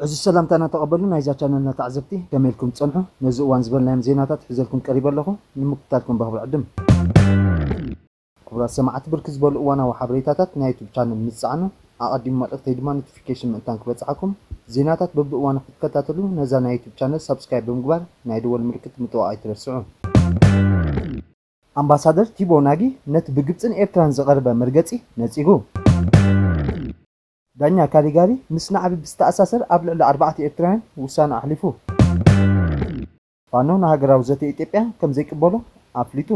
ዕዙዝ ሰላምታና ተቐበሉ ናይዛ ቻነልና ተዓዘብቲ ከመይ ኢልኩም ትጸንሑ ነዚ እዋን ዝበልናዮም ዜናታት ሒዘልኩም ቀሪበ ኣለኹ ንምክታልኩም በኽብሪ ዕድም። ክቡራት ሰማዕቲ ብርክት ዝበሉ እዋናዊ ሓበሬታታት ናይ ዩቱብ ቻነል ምስ ትጸዕኑ ኣቐዲሙ መልእኽተይ ድማ ኖቲፊኬሽን ምእንታን ክበጽሓኩም ዜናታት በብእዋኑ ክትከታተሉ ነዛ ናይ ዩቱብ ቻነል ሳብስክራይብ ብምግባር ናይ ደወል ምልክት ምጥዋቕ ኣይትረስዑ። ኣምባሳደር ቲቦ ናጊ ነቲ ብግብጽን ኤርትራን ዝቐረበ መርገጺ ነጺጉ። ዳኛ ካሊጋሪ ምስ ናዕቢ ብዝተኣሳሰር ኣብ ልዕሊ ኣርባዕተ ኤርትራውያን ውሳነ ኣሕሊፉ። ፋኖ ንሃገራዊ ዘተ ኢትዮጵያ ከም ዘይቅበሎ ኣፍሊጡ።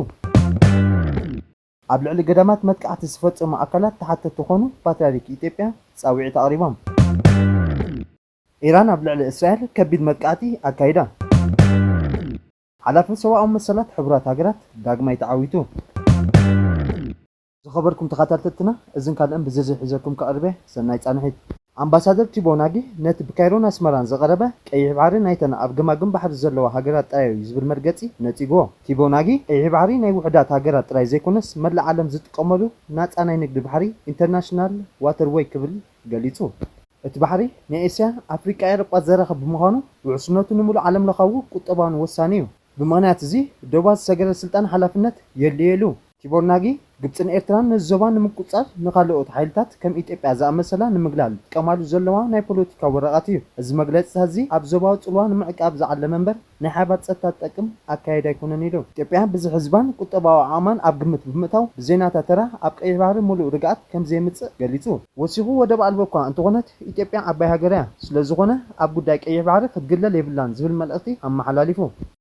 ኣብ ልዕሊ ገዳማት መጥቃዕቲ ዝፈፀሙ ኣካላት ተሓተቲ ክኾኑ ፓትርያርክ ኢትዮጵያ ፃውዒት ኣቕሪቦም። ኢራን ኣብ ልዕሊ እስራኤል ከቢድ መጥቃዕቲ ኣካይዳ። ሓላፊ ሰብኣዊ መሰላት ሕቡራት ሃገራት ዳግማይ ተዓዊቱ። ዝኸበርኩም ተኻታተልትና እዝን ካልእን ብዝርዝር ሒዘልኩም ክቐርብ'የ። ሰናይ ጻንሒት። ኣምባሳደር ቲቦ ናጊ ነቲ ብካይሮን ኣስመራን ዝቐረበ ቀይሕ ባሕሪ ናይተን ኣብ ገማግም ባሕሪ ዘለዋ ሃገራት ጥራይ'ዩ ዝብል መርገጺ ነጺጉዎ። ቲቦ ናጊ ቀይሕ ባሕሪ ናይ ውሑዳት ሃገራት ጥራይ ዘይኮነስ መላእ ዓለም ዝጥቀመሉ ናጻ ናይ ንግዲ ባሕሪ፣ ኢንተርናሽናል ዋተር ዌይ፣ ክብል ገሊጹ። እቲ ባሕሪ ንኤስያ፣ ኣፍሪቃ፣ ኤውሮጳ ዘራኽብ ብምዃኑ ውሕስነቱ ንምሉእ ዓለምለኻዊ ቁጠባውን ወሳኒ'ዩ። ብምኽንያት እዚ ዶባት ዝሰገረ ስልጣን ሓላፍነት የድልዮ ኢሉ። ቲቦር ናጊ፣ ግብጽን ኤርትራን ነዚ ዞባ ንምቁጽጻር ንኻልኦት ሓይልታት ከም ኢትዮጵያ ዝኣመሰላ ንምግላል ዝጥቀማሉ ዘለዋ ናይ ፖለቲካ ወረቓት እዩ። እዚ መግለጺታት'ዚ ኣብ ዞባዊ ጽልዋ ንምዕቃብ ዝዓለመ እምበር ናይ ሓባር ጸጥታ ዝጠቅም ኣካየዳ ኣይኮነን ኢሉ። ኢትዮጵያ ብዝሒ ህዝባን ቁጠባዊ ዓቕማን ኣብ ግምት ብምእታው ብዘይናታ ተራ ኣብ ቀይሕ ባሕሪ ምሉእ ርግኣት ከምዘየምጽእ ገሊጹ። ወሲኹ ወደብ ኣልቦ እኳ እንተኾነት ኢትዮጵያ ዓባይ ሃገር እያ፣ ስለዝኾነ ኣብ ጉዳይ ቀይሕ ባሕሪ ክትግለል የብላን ዝብል መልእኽቲ ኣመሓላሊፉ።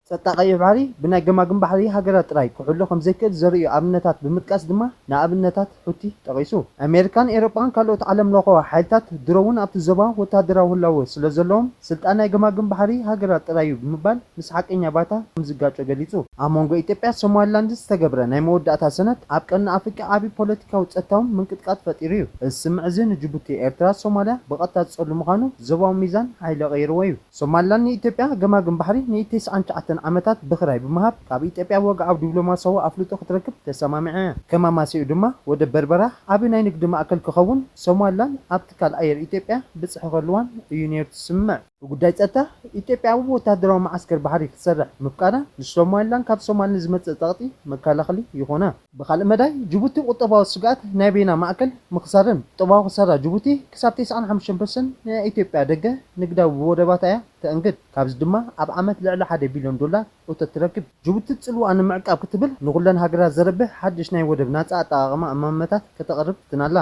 ጸጥታ ቀይሕ ባሕሪ ብናይ ገማግም ባሕሪ ሃገራት ጥራይ ክሕሎ ከምዘይክእል ዘርእዩ ኣብነታት ብምጥቃስ ድማ ንኣብነታት ሑቲ ጠቒሱ። ኣሜሪካን ኤሮጳን ካልኦት ዓለምለኸዊ ሓይልታት ድሮ'ውን ኣብቲ ዞባ ወተሃደራዊ ህላወ ስለዘለዎም፣ ስልጣን ናይ ገማግም ባሕሪ ሃገራት ጥራይ'ዩ ብምባል ምስ ሓቀኛ ባይታ ከምዝጋጮ ገሊጹ። ኣብ መንጎ ኢትዮጵያን ሶማሊላንድን ዝተገብረ ናይ መወዳእታ ሰነድ ኣብ ቀርኒ ኣፍሪቃ ዓቢ ፖለቲካውን ጸጥታውን ምንቅጥቃጥ ፈጢሩ'ዩ። እዚ ስምምዕ'ዚ ንጅቡቲ፣ ኤርትራ፣ ሶማልያ ብቐጥታ ዝጸሉ ምዃኑ ዞባዊ ሚዛን ሓይሊ ቀይርዎ'ዩ። ሶማሊላንድ ንኢትዮጵያ ገማግም ባሕሪ ንቴስዓን ትሽዓተን ዓመታት ብክራይ ብምሃብ ካብ ኢትዮጵያ ወግዓዊ ዲፕሎማሲያዊ ኣፍልጦ ክትረክብ ተሰማሚዐ። ከም ኣማስይኡ ድማ ወደብ በርበራ ዓቢ ናይ ንግዲ ማእከል ክኸውን ሶማሊላንድ ኣብ ትካል ኣየር ኢትዮጵያ ብጽሒ ክህልዋን እዩ ነይሩ እቲ ስምምዕ። ብጉዳይ ጸጥታ፣ ኢትዮጵያ ኣብ ወተሃደራዊ መዓስከር ባሕሪ ክትሰርሕ ምፍቃዳ ንሶማሊላንድ ካብ ሶማል ንዝመጽእ ጸቕጢ መከላኸሊ ይኾና። ብኻልእ መዳይ ጅቡቲ ቁጠባዊ ስግኣት ናይ በይና ማእከል ምኽሳርን ቁጠባዊ ክሳራ ጅቡቲ ክሳብ ተስዓን ሓሙሽተን ፐርሰንት ንናይ ኢትዮጵያ ደገ ንግዳዊ ብወደባታ እያ ተእንግድ። ካብዚ ድማ ኣብ ዓመት ልዕሊ ሓደ ቢልዮን ዶላር እቶት ትረክብ። ጅቡቲ ጽልዋኣ ንምዕቃብ ክትብል ንኹለን ሃገራት ዘርብሕ ሓድሽ ናይ ወደብ ናጻ ኣጠቓቕማ እማመታት ከተቕርብ ፍትና ኣላ።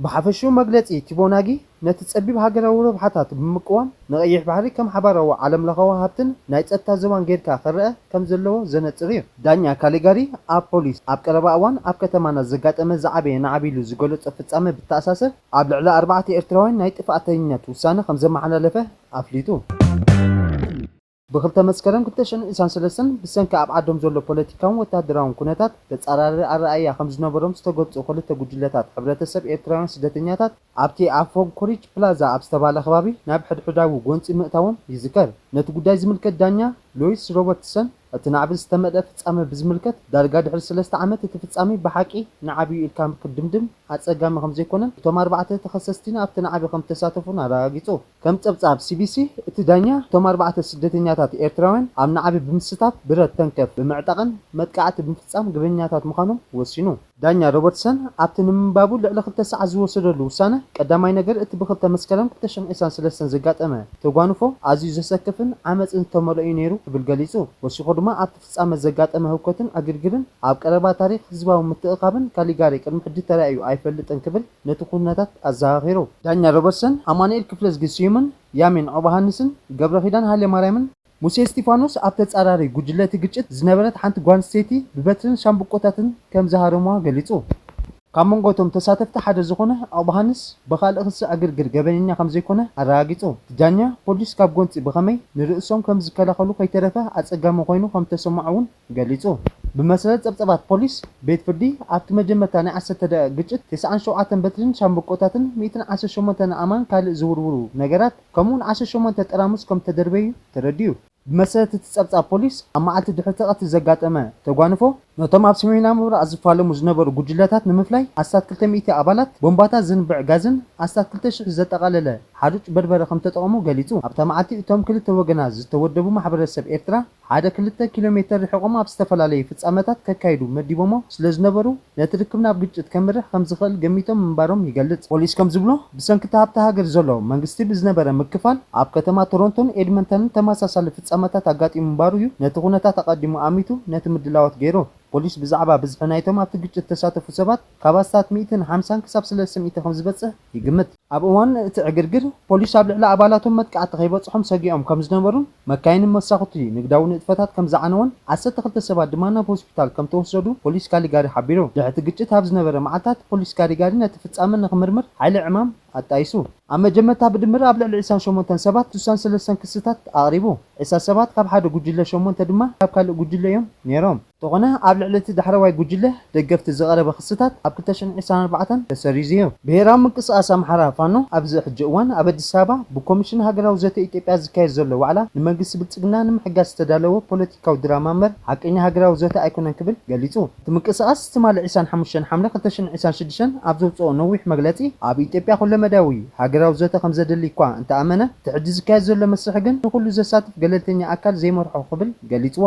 ብሓፈሽኡ መግለጺ ቲቦናጊ፣ ነቲ ጸቢብ ሃገራዊ ረብሓታቱ ብምቅዋም ንቀይሕ ባሕሪ ከም ሓባራዊ ዓለምለኸዊ ሃብትን ናይ ጸጥታ ዞባን ጌርካ ክረኣ ከም ዘለዎ ዘነጽር እዩ። ዳኛ ካሊጋሪ ኣብ ፖሊስ ኣብ ቀረባ እዋን ኣብ ከተማና ዘጋጠመ ዝዓበየ ናዕቢ ኢሉ ዝገለጾ ፍጻመ ብተኣሳሰር ኣብ ልዕሊ ኣርባዕተ ኤርትራውያን ናይ ጥፍኣተኝነት ውሳነ ከም ዘመሓላለፈ ኣፍሊጡ። ብ ክልተ መስከረም ክልተ ሽሕን ዒስራን ሰለስተን ብሰንኪ ኣብ ዓዶም ዘሎ ፖለቲካውን ወተሃደራውን ኩነታት ተጻራሪ ኣረኣኢያ ከም ዝነበሮም ዝተገልጹ ክልተ ጉጅለታት ሕብረተሰብ ኤርትራውያን ስደተኛታት ኣብቲ ኣብ ፎንክሪች ፕላዛ ኣብ ዝተባህለ ከባቢ ናብ ሕድሕዳዊ ጎንጺ ምእታዎም ይዝከር። ነቲ ጉዳይ ዝምልከት ዳኛ ሎይስ ሮበርትሰን እቲ ናዕቢ ዝተመልኣ ፍጻመ ብዝምልከት ዳርጋ ድሕሪ ሰለስተ ዓመት እቲ ፍጻሜ ብሓቂ ናዕቢ'ዩ ኢልካ ክድምድም ኣጸጋሚ ከም ዘይኮነን እቶም ኣርባዕተ ተኸሰስቲን ኣብቲ ናዕቢ ከም ዝተሳተፉን ኣረጋጊጹ። ከም ጸብጻብ ሲቢሲ፣ እቲ ዳኛ እቶም ኣርባዕተ ስደተኛታት ኤርትራውያን ኣብ ናዕቢ ብምስታፍ ብረት ተንከፍ ብምዕጣቕን መጥቃዕቲ ብምፍጻም ግበኛታት ምዃኖም ወሲኑ። ዳኛ ሮበርትሰን ኣብቲ ንምንባቡ ልዕሊ ክልተ ሰዓት ዝወሰደሉ ውሳነ፣ ቀዳማይ ነገር እቲ ብክልተ መስከረም ክልተ ሽሕን ዒስራን ሰለስተን ዘጋጠመ ተጓንፎ ኣዝዩ ዘሰክፍን ዓመጽን ዝተመልኦ'ዩ ነይሩ ክብል ገሊጹ። ወሲኹ ድማ ኣብ ፍጻመ ዘጋጠመ ህውከትን ዕግርግርን ኣብ ቀረባ ታሪኽ ህዝባዊ ምትእኽኻብን ካሊጋሪ ቅድሚ ሕጂ ተራእዩ ኣይፈልጥን ክብል ነቲ ኩነታት ኣዘኻኺሩ። ዳኛ ሮበርትሰን፣ ኣማኑኤል ክፍለዝጊ ስዩምን ያሚን ዖባሃንስን፣ ገብረኪዳን ሃይለማርያምን፣ ሙሴ እስቲፋኖስ ኣብ ተጻራሪ ጉጅለ እቲ ግጭት ዝነበረት ሓንቲ ጓል ኣንስተይቲ ብበትርን ሻምብቆታትን ከም ዝሃረሙዋ ገሊጹ። ካብ መንጎ እቶም ተሳተፍቲ ሓደ ዝኾነ ኣቕባሃንስ ብኻልእ ክሲ ዕግርግር ገበነኛ ከምዘይኮነ ኣረጋጊጹ። እቲ ዳኛ፣ ፖሊስ ካብ ጎንጺ ብኸመይ ንርእሶም ከምዝከላኸሉ ከይተረፈ ኣጸጋሚ ኮይኑ ከምተሰምዖ'ውን ገሊጹ። ብመሰረት ጸብጸባት ፖሊስ፣ ቤት ፍርዲ ኣብቲ መጀመርታ ናይ ዓሰርተ ደቒቕ ግጭት ተስዓን ሸውዓተን በትሪን ሻምብቆታትን ሚእትን ዓሰርተ ሸሞንተን ኣእማን ካልእ ዝውርውሩ ነገራት ከምኡ'ውን ዓሰርተ ሸሞንተ ጠራሙስ ከምተደርበዩ ተረዲኡ። ብመሰረት እቲ ጸብጻብ ፖሊስ፣ ኣብ መዓልቲ ድሕሪ'ቲ ቀትሪ ዘጋጠመ ተጓንፎ፣ ነቶም ኣብ ሰሜናዊ ምብራቕ ዝፋለሙ ዝነበሩ ጉጅለታት ንምፍላይ ኣስታት ክልተ ሚእቲ ኣባላት ቦምባታት ዝንብዕ ጋዝን ኣስታት ክልተ ሽሕ ዘጠቓለለ ሓሩጭ በርበረ ከምተጠቐሙ ገሊጹ። ኣብታ መዓልቲ እቶም ክልተ ወገናት ዝተወደቡ ማሕበረሰብ ኤርትራ ሓደ ክልተ ኪሎሜተር ርሒቖም ኣብ ዝተፈላለዩ ፍጻመታት ከካይዱ መዲቦሞ ስለዝነበሩ፣ ነቲ ርክብ ናብ ግጭት ከምርሕ ከምዝኽእል ገሚቶም ምንባሮም ይገልጽ። ፖሊስ ከምዝብሎ፣ ብሰንኪ እቲ ኣብታ ሃገር ዘሎ መንግስቲ ብዝነበረ ምክፋል፣ ኣብ ከተማ ቶሮንቶን ኤድመንተንን ተመሳሳሊ ፍጻመታት ኣጋጢሙ ምንባሩ እዩ ነቲ ኩነታት ኣቐዲሙ ኣሚቱ ነቲ ምድላዋት ገይሩ። ፖሊስ ብዛዕባ ብዝሒ ናይቶም ኣብቲ ግጭት ዝተሳተፉ ሰባት ካብ ኣስታት ሚእትን ሓምሳን ክሳብ ሰለስተ ሚእቲ ከምዝበጽሕ ይግምት። ኣብ እዋን እቲ ዕግርግር፣ ፖሊስ ኣብ ልዕሊ ኣባላቶም መጥቃዕቲ ከይበጽሖም ሰጊኦም ከም ዝነበሩን መካይንን መሳኹቲ ንግዳዊ ንጥፈታት ከም ዝዓነወን ዓሰርተ ክልተ ሰባት ድማ ናብ ሆስፒታል ከም ተወሰዱ ፖሊስ ካሊጋሪ ሓቢሩ። ድሕሪ እቲ ግጭት ኣብ ዝነበረ መዓልታት፣ ፖሊስ ካሊጋሪ ነቲ ፍጻመ ንኽምርምር ሓይሊ ዕማም ኣጣይሱ። ኣብ መጀመርታ ብድምር ኣብ ልዕሊ ዕስራን ሸሞንተን ሰባት ስሳን ሰለስተን ክስታት ኣቕሪቡ። ዕስራ ሰባት ካብ ሓደ ጉጅለ ሸሞንተ ድማ ካብ ካልእ ጉጅለ እዮም ነይሮም። እንተኾነ ኣብ ልዕሊ እቲ ዳሕረዋይ ጉጅለ ደገፍቲ ዝቐረበ ክስታት ኣብ ክልተ ሽሕን ዒስራን ኣርባዕተን ተሰሪዙ እዩ። ብሄራዊ ምንቅስቓስ ኣምሓራ፣ ፋኖ፣ ኣብዚ ሕጂ እዋን ኣብ ኣዲስ ኣበባ ብኮሚሽን ሃገራዊ ዘተ ኢትዮጵያ ዝካየድ ዘሎ ዋዕላ ንመንግስቲ ብልፅግና ንምሕጋዝ ዝተዳለወ ፖለቲካዊ ድራማ እምበር ሓቀኛ ሃገራዊ ዘተ ኣይኮነን ክብል ገሊፁ። እቲ ምንቅስቓስ ትማሊ ዒስራን ሓሙሽተን ሓምለ ክልተ ሽሕን ዒስራን ሽዱሽተን ኣብ ዘውፀኦ ነዊሕ መግለፂ ኣብ ኢትዮጵያ ኩለመዳያዊ ሃገራዊ ዘተ ከምዘድሊ እኳ እንተኣመነ እቲ ሕጂ ዝካየድ ዘሎ መስርሕ ግን ንኹሉ ዘሳትፍ ገለልተኛ ኣካል ዘይመርሖ ክብል ገሊጽዎ።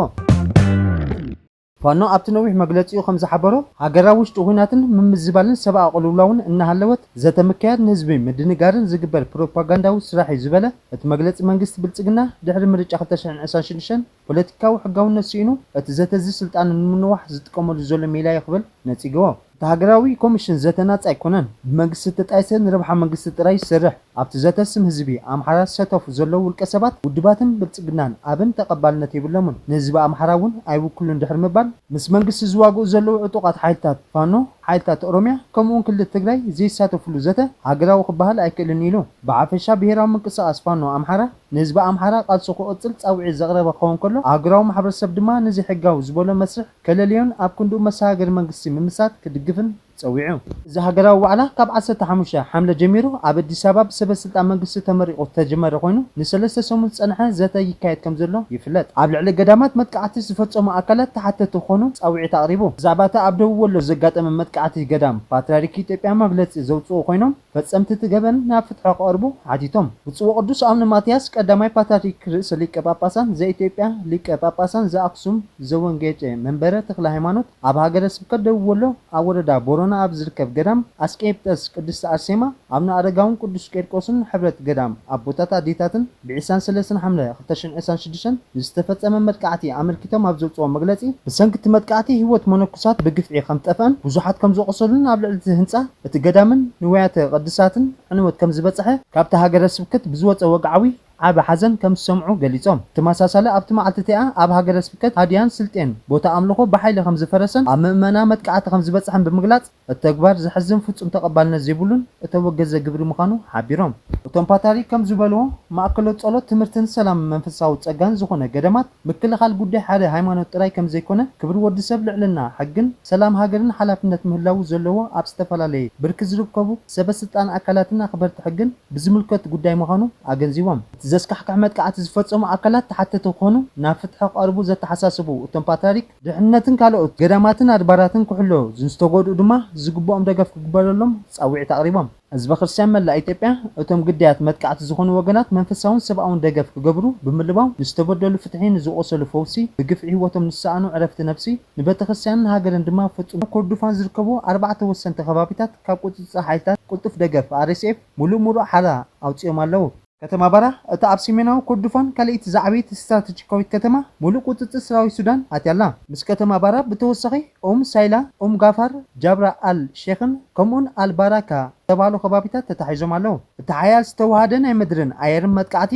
ፋኖ ኣብቲ ነዊሕ መግለጺኡ ከም ዝሓበሮ፣ ሃገራዊ ውሽጢ ኹናትን ምምዝባልን ሰብኣዊ ቅልውላውን እናሃለወት ዘተ ምክያድ ንህዝቢ ምድንጋርን ዝግበር ፕሮፓጋንዳዊ ስራሕ'ዩ ዝበለ እቲ መግለጺ መንግስቲ ብልጽግና ድሕሪ ምርጫ ክልተ ሽሕን ዕስራን ሽዱሽተን ፖለቲካዊ ሕጋውነት ስኢኑ እቲ ዘተ'ዚ ስልጣኑ ንምንዋሕ ዝጥቀመሉ ዘሎ ሜላ'ዩ ክብል ነጺግዎ። እቲ ሃገራዊ ኮሚሽን ዘተ ናጻ ኣይኮነን፣ ብመንግስቲ እተጣየሰ ንረብሓ መንግስቲ ጥራይ ዝሰርሕ፣ ኣብቲ ዘተ ስም ህዝቢ ኣምሓራ ዝሰተፉ ዘለዉ ውልቀ ሰባት፣ ውድባትን ብልጽግናን ኣብን ተቐባልነት የብሎምን፣ ንህዝቢ ኣምሓራ እውን ኣይውክሉን ድሕሪ ምባል፣ ምስ መንግስቲ ዝዋግኡ ዘለዉ ዕጡቓት ሓይልታት ፋኖ፣ ሓይልታት ኦሮምያ ከምኡ'ውን ክልል ትግራይ ዘይሳተፍሉ ዘተ ሃገራዊ ክበሃል ኣይክእልን ኢሉ። ብሓፈሻ ብሄራዊ ምንቅስቓስ ፋኖ ኣምሓራ ንህዝቢ ኣምሓራ ቃልሱ ክቕጽል ጻውዒት ዘቕረበ ክኸውን ከሎ፣ ኣህጉራዊ ማሕበረሰብ ድማ ንዘይሕጋዊ ዝበሎ መስርሕ፣ ከለልዮን ኣብ ክንድኡ መሰጋገሪ መንግስቲ ምምስራት ክድግፍን ጸዊዑ። እዚ ሃገራዊ ዋዕላ ካብ ዓሰርተ ሓሙሽተ ሓምለ ጀሚሩ ኣብ ኣዲስ ኣበባ ብሰበ ስልጣን መንግስቲ ተመሪቑ ዝተጀመረ ኮይኑ ንሰለስተ ሰሙን ዝጸንሐ ዘተ ይካየድ ከምዘሎ ይፍለጥ። ኣብ ልዕሊ ገዳማት መጥቃዕቲ ዝፈጸሙ ኣካላት ተሓተቲ ክኾኑ ጻዊዒት ኣቕሪቡ። ብዛዕባ እቲ ኣብ ደቡብ ወሎ ዘጋጠመ መጥቃዕቲ ገዳም ፓትርያርክ ኢትዮጵያ መግለጺ ዘውጽኡ ኮይኖም፣ ፈጸምቲ እቲ ገበን ናብ ፍትሖ ክቐርቡ ሓቲቶም። ብፁዕ ወቅዱስ ኣውነ ማትያስ ቀዳማይ ፓትርያርክ ርእሰ ሊቀ ጳጳሳን ዘኢትዮጵያ ሊቀ ጳጳሳን ዘኣክሱም ዘወንጌጨ መንበረ ተክለ ሃይማኖት ኣብ ሃገረ ስብከት ደቡብ ወሎ ኣብ ወረዳ ቦረና ኣብ ዝርከብ ገዳም ኣስቄጵጠስ ቅድስት ኣርሴማ ኣቡነ ኣረጋውን ቅዱስ ቄርቆስን ሕብረት ገዳም ኣቦታት ኣዴታትን ብ ዕስራን ሰለስተን ሓምለ ክልተ ሽሕን ዕስራን ሽዱሽተን ንዝተፈጸመ መጥቃዕቲ ኣመልኪቶም ኣብ ዘውጽእዎ መግለጺ፣ ብሰንኪ እቲ መጥቃዕቲ ህይወት መነኩሳት ብግፍዒ ከም ዝጠፍኣን ብዙሓት ከም ዝቖሰሉን ኣብ ልዕሊ እቲ ህንጻ እቲ ገዳምን ንዋያተ ቅድሳትን ዕንወት ከም ዝበጸሐ ካብቲ ሃገረ ስብከት ብዝወጸ ወግዓዊ ዓቢ ሓዘን ከም ዝሰምዑ ገሊጾም። ብተመሳሳሊ ኣብቲ መዓልቲ እቲኣ ኣብ ሃገረ ስብከት ሃድያን ስልጤን ቦታ ኣምልኾ ብሓይሊ ከም ዝፈረሰን ኣብ ምእመና መጥቃዕቲ ከም ዝበጽሐን ብምግላጽ፣ እቲ ተግባር ዘሕዝን ፍፁም ተቐባልነት ዘይብሉን እተወገዘ ግብሪ ምዃኑ ሓቢሮም። እቶም ፓታሪክ ከም ዝበልዎ፣ ማእከሎት ጸሎት፣ ትምህርትን ሰላምን መንፈሳዊ ጸጋን ዝኾነ ገዳማት፣ ምክልኻል ጉዳይ ሓደ ሃይማኖት ጥራይ ከም ዘይኮነ፣ ክብሪ ወዲ ሰብ፣ ልዕልና ሕግን ሰላም ሃገርን ሓላፍነት ምህላዉ ዘለዎ ኣብ ዝተፈላለየ ብርኪ ዝርከቡ ሰበ ስልጣን ኣካላትን ኣኽበርቲ ሕግን ብዝምልከት ጉዳይ ምዃኑ ኣገንዚቦም። እቲ ዘስካሕክሕ መጥቃዕቲ ዝፈጸሙ ኣካላት ተሓተቲ ክኾኑ ናብ ፍትሒ ክቐርቡ ዘተሓሳሰቡ እቶም ፓትሪያርክ፣ ድሕንነትን ካልኦት ገዳማትን ኣድባራትን ክሕሎ ንዝተጎድኡ ድማ ዝግብኦም ደገፍ ክግበረሎም ፃውዒት ኣቕሪቦም። ህዝበ ክርስቲያን መላእ ኢትዮጵያ እቶም ግዳያት መጥቃዕቲ ዝኾኑ ወገናት መንፈሳውን ሰብኣውን ደገፍ ክገብሩ ብምልባው ንዝተበደሉ ፍትሒ፣ ንዝቖሰሉ ፈውሲ፣ ብግፍዒ ህይወቶም ንዝሰኣኑ ዕረፍቲ ነብሲ፣ ንቤተክርስቲያንን ሃገርን ድማ ፍፁም። ኮርዱፋን ዝርከቡ ኣርባዕተ ወሰንቲ ከባቢታት ካብ ቁፅፅር ሓይልታት ቅልጡፍ ደገፍ፣ RSF፣ ሙሉእ ሙሉእ ሓራ ኣውፂኦም ኣለው። ከተማ ባራህ፣ እታ ኣብ ሰሜናዊ ኮርዶፋን ካልኣይቲ ዝዓበየት ስትራተጂካዊት ከተማ፣ ምሉእ ቍጽጽር ሰራዊት ሱዳን ኣትያ ኣላ። ምስ ከተማ ባራህ ብተወሳኺ፣ ኡም ሳይላ፣ ኡም ጋፋር፣ ጃብራ ኣል ሼኽን ከምኡ'ውን ኣል ባራካ ዝተባህሉ ከባቢታት ተታሒዞም ኣለዉ። እቲ ሓያል ዝተወሃሃደ ናይ ምድርን ኣየርን መጥቃዕቲ፣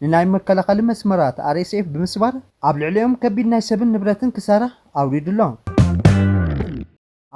ንናይ መከላኸሊ መስመራት RSF ብምስባር፣ ኣብ ልዕሊኦም ከቢድ ናይ ሰብን ንብረትን ክሳራ ኣውሪዱ ኣሎ።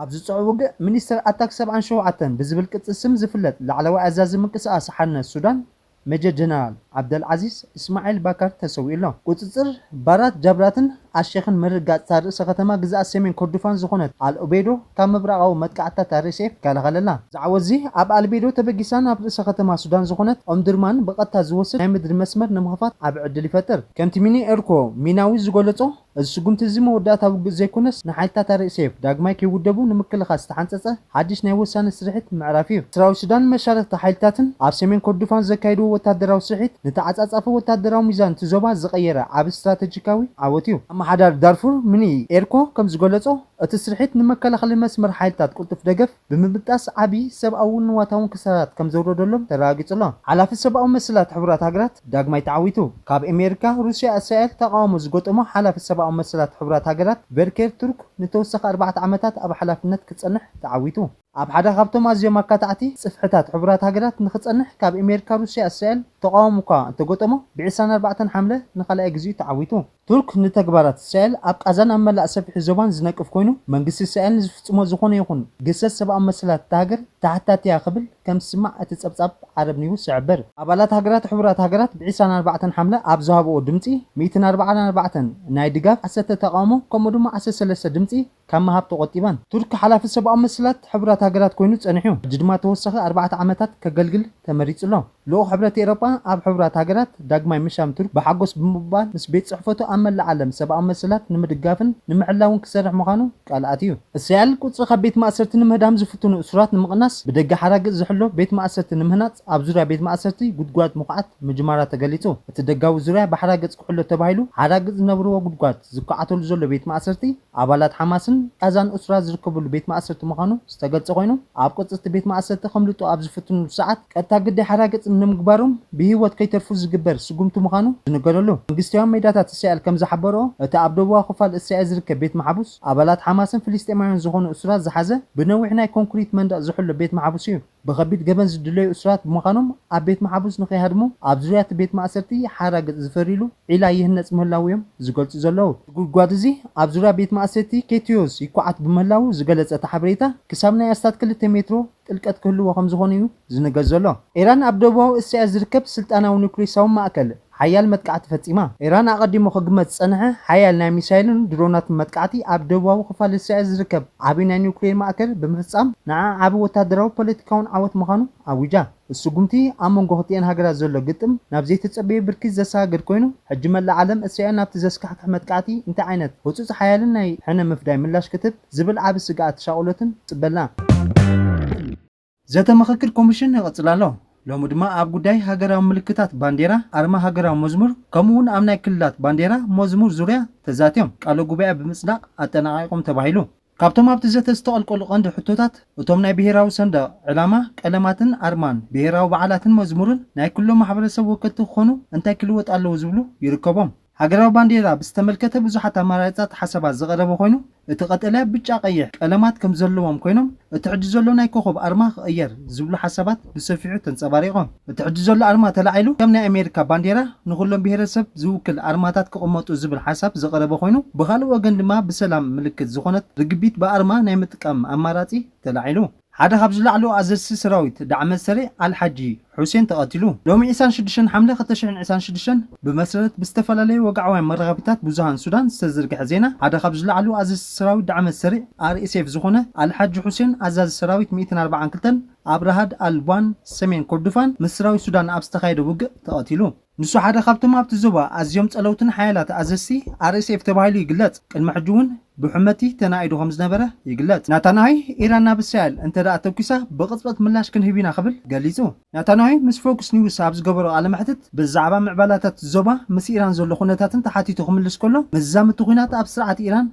ኣብዚ ጽዑብ ውግእ፣ ሚኒስተር ኣታክ ሰብዓን ሸውዓተን ብዝብል ቅጽል ስም ዝፍለጥ ላዕለዋይ ኣዛዚ ምንቅስቓስ ሓርነት ሱዳን ሜጀር ጀነራል ዓብደል ዓዚዝ እስማዒል ባካር ተሰዊኡ ኣሎ። ቁጽጽር ባራት ጃብራትን ኣልሼኽን ምርግጋጽ'ታ ርእሰ ከተማ ግዝኣት ሰሜን ኮርዱፋን ዝኾነት ኣል ኡበይዶ ካብ ምብራቓዊ መጥቃዕትታት RSF ይከላኸለላ። እዚ ዓወት'ዚ ኣብ ኣል ኡበይዶ ተበጊሳ ናብ ርእሰ ከተማ ሱዳን ዝኾነት ኦምዱርማን ብቐጥታ ዝወስድ ናይ ምድሪ መስመር ንምኽፋት ዓቢ ዕድል ይፈጥር። ከምቲ ሚኒ ኤርኮ ሚናዊ ዝገለጾ፣ እዚ ስጉምቲ እዚ መወዳእታ ውግእ ዘይኮነስ ንሓይልታት ኣርኤስኤፍ ዳግማይ ከይውደቡ ንምክልኻል ዝተሓንጸጸ ሓድሽ ናይ ወሳኒ ስርሒት ምዕራፍ እዩ። ሰራዊት ሱዳንን መሻርኽቲ ሓይልታትን ኣብ ሰሜን ኮርዱፋን ዘካየድዎ ወተሃደራዊ ስርሒት ንተዓጻጻፊ ወተሃደራዊ ሚዛን እቲ ዞባ ዝቐየረ ዓቢ ስትራተጂካዊ ዓወት እዩ። ኣመሓዳሪ ዳርፉር ሚኒ ኤርኮ ከም ዝገለጾ፣ እቲ ስርሒት ንመከላኸሊ መስመር ሓይልታት ቅልጡፍ ደገፍ፣ ብምብጣስ ዓቢ ሰብኣውን ንዋታውን ክሳራት ከም ዘውረደሎም ተረጋጊጹ ኣሎ። ሓላፊ ሰብኣዊ መሰላት ሕቡራት ሃገራት ዳግማይ ተዓዊቱ። ካብ ኤሜሪካ፣ ሩስያ፣ እስራኤል ተቓውሞ ዝገጠሞ ሓላፊ ሰብኣዊ መሰላት ሕቡራት ሃገራት ቨልኬር ቱርክ ንተወሳኺ ኣርባዕተ ዓመታት ኣብ ሓላፍነት ክጸንሕ ተዓዊቱ። ኣብ ሓደ ካብቶም ኣዝዮም ኣካታዕቲ ጽፍሕታት ሕቡራት ሃገራት ንኽጸንሕ ካብ ኤሜሪካ፣ ሩስያ፣ እስራኤል ተቓውሞ'ኳ እንተገጠሞ፣ ብዕስራን ኣርባዕተን ሓምለ ንኻልኣይ ግዜኡ ተዓዊቱ። ቱርክ ንተግባራት እስራኤል ኣብ ቓዛን ኣብ መላእ ሰፊሒ ዞባን ዝነቅፍ ኮይኑ፣ መንግስቲ እስራኤል ንዝፍጽሞ ዝኾነ ይኹን ግህሰት ሰብኣዊ መሰላት እታ ሃገር ተሓታቲ'ያ ክብል ከም ዝስማዕ እቲ ጸብጻብ ዓረብ ኒውስ ይሕብር። ኣባላት ሃገራት ሕቡራት ሃገራት ብ ዕስራን ኣርባዕተን ሓምለ ኣብ ዝሃብኦ ድምጺ፣ ሚእትን ኣርባዓን ኣርባዕተን ናይ ድጋፍ፣ ዓሰርተ ተቓውሞ ከምኡ ድማ ዓሰርተ ሰለስተ ድምጺ፣ ካብ ምሃብ ተቖጢባን። ቱርኪ ሓላፊ ሰብኣዊ መሰላት ሕቡራት ሃገራት ኮይኑ ጸኒሑ፣ ሕጂ ድማ ተወሳኺ ኣርባዕተ ዓመታት ከገልግል ተመሪጹ ኣሎ። ልኡኽ ሕብረት ኤሮጳ ኣብ ሕቡራት ሃገራት ዳግማይ ምሻም ቱርኪ ብሓጎስ ብምቕባል ምስ ቤት ጽሕፈቱ ኣብ መላእ ዓለም ሰብኣዊ መሰላት ንምድጋፍን ንምሕላውን ክሰርሕ ምዃኑ ቃል ኣትዩ። እስራኤል ቁጽሪ ካብ ቤት ማእሰርቲ ንምህዳም ዝፍትኑ እሱራት ንምቕናስ ብደገ ሓራግእ ዝሕሎ ቤት ማእሰርቲ ንምህናጽ ኣብ ዙርያ ቤት ማእሰርቲ ጉድጓድ ምኹዓት ምጅማራ ተገሊጹ። እቲ ደጋዊ ዙርያ ብሓራግጽ ክሕሎ ተባሂሉ ሓራግጽ ዝነብርዎ ጉድጓድ ዝኳዓተሉ ዘሎ ቤት ማእሰርቲ፣ ኣባላት ሓማስን ቓዛን እሱራት ዝርከብሉ ቤት ማእሰርቲ ምዃኑ ዝተገልጸ ኮይኑ፣ ኣብ ቅጽ እቲ ቤት ማእሰርቲ ከምልጡ ኣብ ዝፍትንሉ ሰዓት ቀጥታ ግዳይ ሓራግጽ ንምግባሮም ብህይወት ከይተርፉ ዝግበር ስጉምቲ ምዃኑ ዝንገረሉ መንግስቲያዊ ሜዳታት እስራኤል ከም ዝሓበረኦ እቲ ኣብ ደቡባዊ ክፋል እስራኤል ዝርከብ ቤት መሓቡስ ኣባላት ሓማስን ፍልስጤማውያን ዝኾኑ እሱራት ዝሓዘ ብነዊሕ ናይ ኮንኩሪት መንደቕ ዝሕሎ ቤት መሓቡስ እዩ። ብኸቢድ ገበን ዝድለዩ እሱራት ብምዃኖም ኣብ ቤት መሓቡስ ንኸይሃድሙ ኣብ ዙርያ እቲ ቤት ማእሰርቲ ሓራግጽ ዝፈርይሉ ዒላ ይህነጽ ምህላዉ እዮም ዝገልጹ ዘለዉ። እቲ ጉድጓድ እዚ ኣብ ዙርያ ቤት ማእሰቲ ኬትዮስ ይኳዓት ብምህላዉ ዝገለጸ እቲ ሓበሬታ፣ ክሳብ ናይ ኣስታት ክልተ ሜትሮ ጥልቀት ክህልዎ ከምዝኾነ እዩ ዝንገር ዘሎ። ኢራን ኣብ ደቡባዊ እስያ ዝርከብ ስልጣናዊ ኑክሌሳዊ ማእከል፣ ሓያል መጥቃዕቲ ፈጺማ። ኢራን ኣቐዲሙ ክግመት ዝጸንሐ ሓያል ናይ ሚሳይልን ድሮናትን መጥቃዕቲ ኣብ ደቡባዊ ክፋል እስራኤል ዝርከብ ዓቢ ናይ ኒዩክሌር ማእከል ብምፍጻም ንዓ ዓቢ ወተሃደራዊ ፖለቲካውን ዓወት ምዃኑ ኣዊጃ። እቲ ስጉምቲ ኣብ መንጎ ክልቲኤን ሃገራት ዘሎ ግጥም ናብ ዘይተጸበየ ብርኪ ዘሰጋግር ኮይኑ፣ ሕጂ መላእ ዓለም እስራኤል ናብቲ ዘስካሕክሕ መጥቃዕቲ እንታይ ዓይነት ህጹጽ ሓያልን ናይ ሕነ ምፍዳይ ምላሽ ክትህብ ዝብል ዓቢ ስግኣትን ሻቕሎትን ትጽበ ኣላ። ዘተ ምኽክር ኮሚሽን ይቕፅል ኣሎ። ሎሚ ድማ ኣብ ጉዳይ ሃገራዊ ምልክታት ባንዴራ፣ ኣርማ ሃገራዊ መዝሙር ከምኡ እውን ኣብ ናይ ክልላት ባንዴራ፣ መዝሙር ዙርያ ተዛትዮም ቃለ ጉባኤ ብምፅዳቕ ኣጠናቒቖም ተባሂሉ። ካብቶም ኣብቲ ዘተ ዝተቐልቀሉ ቀንዲ ሕቶታት እቶም ናይ ብሄራዊ ሰንደቕ ዕላማ፣ ቀለማትን ኣርማን፣ ብሄራዊ በዓላትን መዝሙርን ናይ ክልሎም ማሕበረሰብ ወከልቲ ክኾኑ እንታይ ክልወጥ ኣለዎ ዝብሉ ይርከቦም። ሃገራዊ ባንዴራ ብዝተመልከተ ብዙሓት ኣማራርጻት ሓሳባት ዝቐረበ ኮይኑ፣ እቲ ቀጠልያ፣ ብጫ፣ ቀይሕ ቀለማት ከም ዘለዎም ኮይኖም፣ እቲ ሕጂ ዘሎ ናይ ኮኾብ ኣርማ ክቕየር ዝብሉ ሓሳባት ብሰፊሑ ተንጸባሪቖም። እቲ ሕጂ ዘሎ ኣርማ ተላዒሉ ከም ናይ ኣሜሪካ ባንዴራ ንኹሎም ብሄረሰብ ዝውክል ኣርማታት ክቕመጡ ዝብል ሓሳብ ዝቐረበ ኮይኑ፣ ብኻልእ ወገን ድማ ብሰላም ምልክት ዝኾነት ርግቢት ብኣርማ ናይ ምጥቃም ኣማራጺ ተላዒሉ። ሓደ ካብ ዝለዓሉ ኣዘዝቲ ሰራዊት ዳዕመ ሰሪዕ ኣል ሓጂ ሑሴን ተቐቲሉ። ሎሚ ዒስራን ሽዱሽተን ሓምለ ክልተ ሽሕን ዒስራን ሽዱሽተን ብመሰረት ብዝተፈላለዩ ወግዓውያን መራኸቢታት ብዙሃን ሱዳን ዝተዘርግሐ ዜና፣ ሓደ ካብ ዝለዓሉ ኣዘዝቲ ሰራዊት ዳዕመ ሰሪዕ፣ RSF፣ ዝኾነ ኣል ሓጂ ሑሴን ኣዛዚ ሰራዊት ሚእትን ኣርባዓን ክልተን ኣብ ራሃድ ኣል ቧን ሰሜን ኮርዱፋን ምስ ሰራዊት ሱዳን ኣብ ዝተኻየደ ውግእ ተቐቲሉ። ንሱ ሓደ ካብቶም ኣብቲ ዞባ ኣዝዮም ጸለውትን ሓያላት ኣዘዝቲ RSF ተባሂሉ ይግለጽ፣ ቅድሚ ሕጂ እውን ብሑመቲ ተናኢዱ ከም ዝነበረ ይግለጽ። ናታንያሂ፣ ኢራን ናብ እስራኤል እንተድኣ ተኲሳ ብቕጽበት ምላሽ ክንህብ ኢና ክብል ገሊጹ። ናታንያሂ ምስ ፎክስ ኒውስ ኣብ ዝገበሮ ቃለ መሕትት ብዛዕባ ምዕባላታት እቲ ዞባ ምስ ኢራን ዘሎ ኩነታትን ተሓቲቱ ክምልስ ከሎ፣ መዛምድቲ ኲናት ኣብ ስርዓት ኢራን፣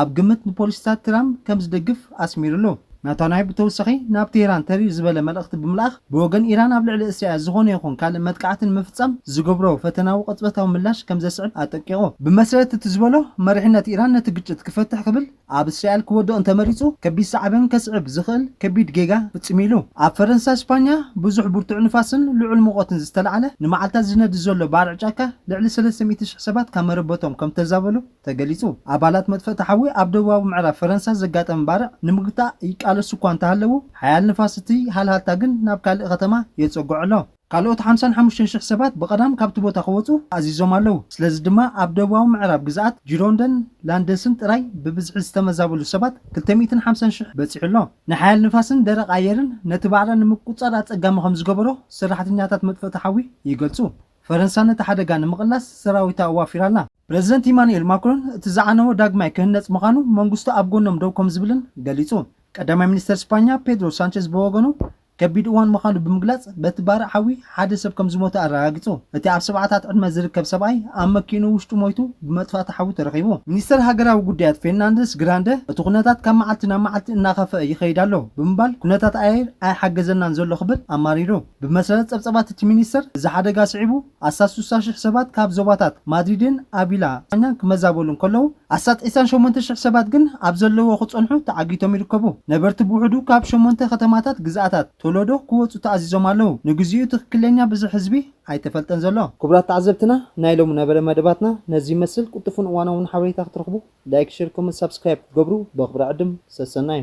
ኣብ ግምት ንፖሊሲታት ትራምፕ ከም ዝድግፍ ኣስሚርሉ። ናታንያሁ ብተወሳኺ ናብ ቴህራን ተሪር ዝበለ መልእኽቲ ብምልኣኽ፣ ብወገን ኢራን ኣብ ልዕሊ እስራኤል ዝኾነ ይኹን ካልእ መጥቃዕቲ ንምፍጻም ዝገብሮ ፈተናዊ ቅጽበታዊ ምላሽ ከም ዘስዕብ ኣጠንቂቑ። ብመሰረት እቲ ዝበሎ፣ መሪሕነት ኢራን ነቲ ግጭት ክፈትሕ ክብል ኣብ እስራኤል ክወድቕ እንተመሪጹ፣ ከቢድ ሳዕቤን ከስዕብ ዝኽእል ከቢድ ጌጋ ፍጺሙ ኢሉ። ኣብ ፈረንሳ ስፓኛ ብዙሕ ብርቱዕ ንፋስን ልዑል ሙቐትን ዝተላዕለ ንመዓልታት ዝነድድ ዘሎ ባርዕ ጫካ ልዕሊ ሰለስተ ሚእቲ ሽሕ ሰባት ካብ መረበቶም ከም ተዛበሉ፣ ተገሊጹ። ኣባላት መጥፈእቲ ሓዊ ኣብ ደቡባዊ ምዕራብ ፈረንሳ ዘጋጠመ ባርዕ ንምግታእ ይቃለሱ እኳ እንተሃለዉ፣ ሓያል ንፋስ እቲ ሃልሃልታ ግን ናብ ካልእ ከተማ የጸግዖ ኣሎ። ካልኦት ሓምሳን ሓሙሽተን ሽሕ ሰባት ብቐዳም ካብቲ ቦታ ክወጹ ኣዚዞም ኣለዉ፣ ስለዚ ድማ ኣብ ደቡባዊ ምዕራብ ግዝኣት ጂሮንደን ላንደስን ጥራይ ብብዝሒ ዝተመዛበሉ ሰባት ክልተ ሚእትን ሓምሳን ሽሕ በጺሑ ኣሎ። ናይ ሓያል ንፋስን ደረቕ ኣየርን ነቲ ባርዕ ንምቁጽጻር ኣጸጋሚ ከም ዝገበሮ ሰራሕተኛታት መጥፈእቲ ሓዊ ይገልጹ። ፈረንሳ ነቲ ሓደጋ ንምቕላስ ሰራዊታ ኣዋፊራ ኣላ። ፕረዚደንት ኢማኑኤል ማክሮን እቲ ዝዓነወ ዳግማይ ክህነጽ ምዃኑ መንግስቱ ኣብ ጎኖም ደው ከምዝብልን ገሊጹ። ቀዳማይ ሚኒስተር ስፓኛ ፔድሮ ሳንቸዝ ብወገኑ ከቢድ እዋን ምዃኑ ብምግላጽ በቲ ባርዕ ሓዊ ሓደ ሰብ ከምዝሞተ ኣረጋጊጹ። እቲ ኣብ ሰብዓታት ዕድመ ዝርከብ ሰብኣይ ኣብ መኪእኑ ውሽጡ ሞይቱ ብመጥፋእቲ ሓዊ ተረኺቡ። ሚኒስተር ሃገራዊ ጉዳያት ፌርናንደስ ግራንደ እቲ ኩነታት ካብ መዓልቲ ናብ መዓልቲ እናኸፈኣ ይኸይድ ኣሎ ብምባል ኩነታት ኣየር ኣይሓገዘናን ዘሎ ክብል ኣማሪሩ። ብመሰረት ጸብጸባት እቲ ሚኒስተር እዚ ሓደጋ ስዒቡ ኣስታት ስሳ ሽሕ ሰባት ካብ ዞባታት ማድሪድን ኣቪላ፣ ስጳኛን ክመዛበሉ እንከለዉ፣ ኣስታት ዒስራን ሸሞንተ ሽሕ ሰባት ግን ኣብ ዘለዉዎ ክጸንሑ ተዓጊቶም ይርከቡ። ነበርቲ ብውሕዱ ካብ ሸሞንተ ከተማታት ግዝኣታት ቶለዶ ክወጹ ተኣዚዞም ኣለዉ። ንግዜኡ ትኽክለኛ ብዝሒ ህዝቢ ኣይተፈልጠን ዘሎ። ክቡራት ተዓዘብትና ናይ ሎሚ ነበረ መደባትና ነዚ ይመስል ቅልጡፍን እዋናውን ሓበሬታ ክትረኽቡ ላይክ ሸር ኮመንት ሳብስክራይብ ክትገብሩ በኽብሪ ዕድም ሰሰናዩ።